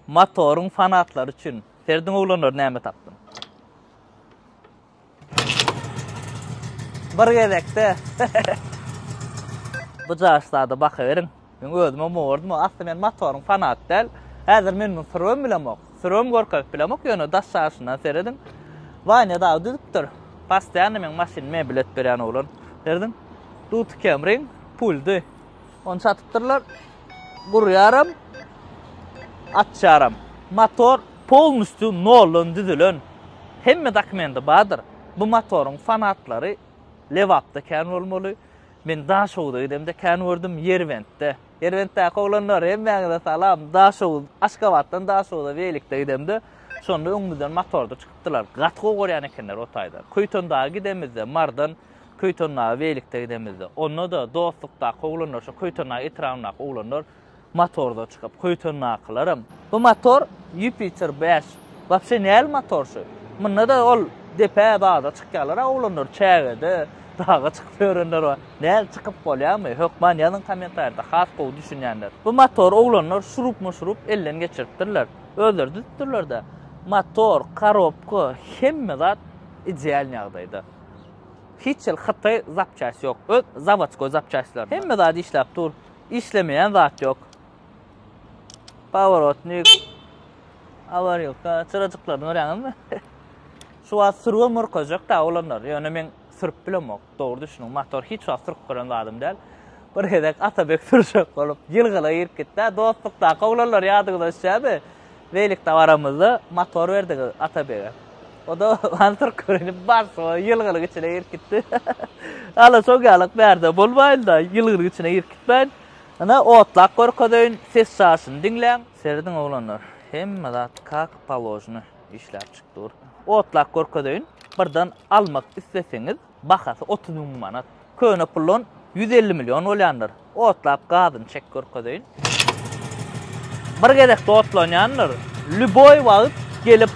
Motoryň fanatlary üçin. Serediň oglanlar näme tapdym. Bir gezekde. Bu jaşlarda baka beriň. Men özüm hem owardym. Asly men motoryň fanaty däl. Häzir men muny sürüp bilemok. Sürüp görkezip bilemok. Ýöne daş jaşyndan serediň. Wanya dagy düzüpdir. Pastiýany men maşyn mebel et berýän oglan. Serediň. Duty kemriň puldy. Ony satypdyrlar. Gurýaram, açýaram. Motor polnusty noldan düzülen. Hemme dokumendi bardyr. Bu motoryň fanatlary Lebapda kän bolmaly. Men Daşoguza gidemde kän gördüm, Ýerbentde. Ýerbentdäki oglanlar hemmäňize salam. Daşoguz, Aşgabatdan Daşoguza weýlikde gidemde, şonda öňümizden motorda çykypdylar. Gaty gowy görýän ekenler o taýdan. Köýtendaga gidemizde Mardan Köýtendaga beýlikde gidemizde, onda-da dostlukdaky oglanlar, şo Köýtendag etrabyndaky oglanlar motorda çykyp, Köýtendakylaram. Bu motor Jupiter bäş. Wapşe näl motor şu? Munda-da ol depä baza çykýarlar-a oglanlar, çägede, daga çykyp ýörenler bar. Näl, çykyp bolýarmy? Hökman ýazyň kommentariýada, has gowy düşünýänler. Bu motory oglanlar şurupmy-şurup elden geçiripdirler. Özleri düzüpdirler-de. Motor, korobka, hemme zat ideal ýagdaýda. Hiç hil hytaý zapçast ýok. Öz zawodskoý zapçastlar. Hemme zat işläp dur. Işlemeýän zat ýok. Paworotnik. Awarýolka. Çyrajyklaryny görýäňizmi? Şu wagt sürgün murkajak da olanlar. Ýöne men sürüp bilemok. Dogry düşüniň. Motor hiç wagt sürüp gören zadym däl. Bir gezek Atabek sürjek bolup, ýylgyla girip gitdi. Dostlukdaky oglanlar ýadyňyza düşýärmi? Beýleki dabaramyzda motor berdik Atabege. O-da ony türkürenip barsa ýylgyryň içine girip gitdi. Hala şo ýalyk bärde bolmaýyn-da, ýylgyryň içine girip gitmäýin. Ine, otlap görkezeýin, ses çaşyny diňläň. Serediň oglanlar, hemme zat kak položny işläp çyk dur. Otlap görkezeýin, birden almak isleseňiz, Bahasy otuz müň manat. Köne puldan ýüz elli million bolýandyr. Otlap gazyny çek görkezeýin. Bir gezekde otlanýandyr. Lýuboý wagt gelip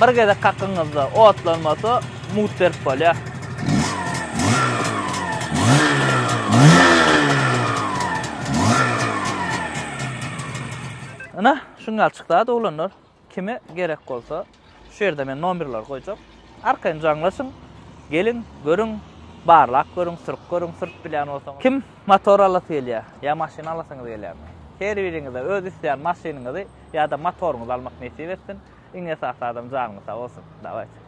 bir gezek kakyňyzda otlanmasa mut berip bolýar. Ine, şuňalçyk zat oglanlar. Kime gerek bolsa şu ýerde men nomerleri goýjak. Arkaýyn jaňlaşyň, geliň, görüň, barlap görüň, sürüp görüň, sürüp bilýän bolsaňyz. Kim motor alasy gelýär, ýa maşyn alasyňyz gelýärmi? Her biriňize öz isleýän maşynyňyzy ýa-da motoryňyzy almak nesip etsin. Iň esasy adam janyňyz sag bolsun. Dawaýt.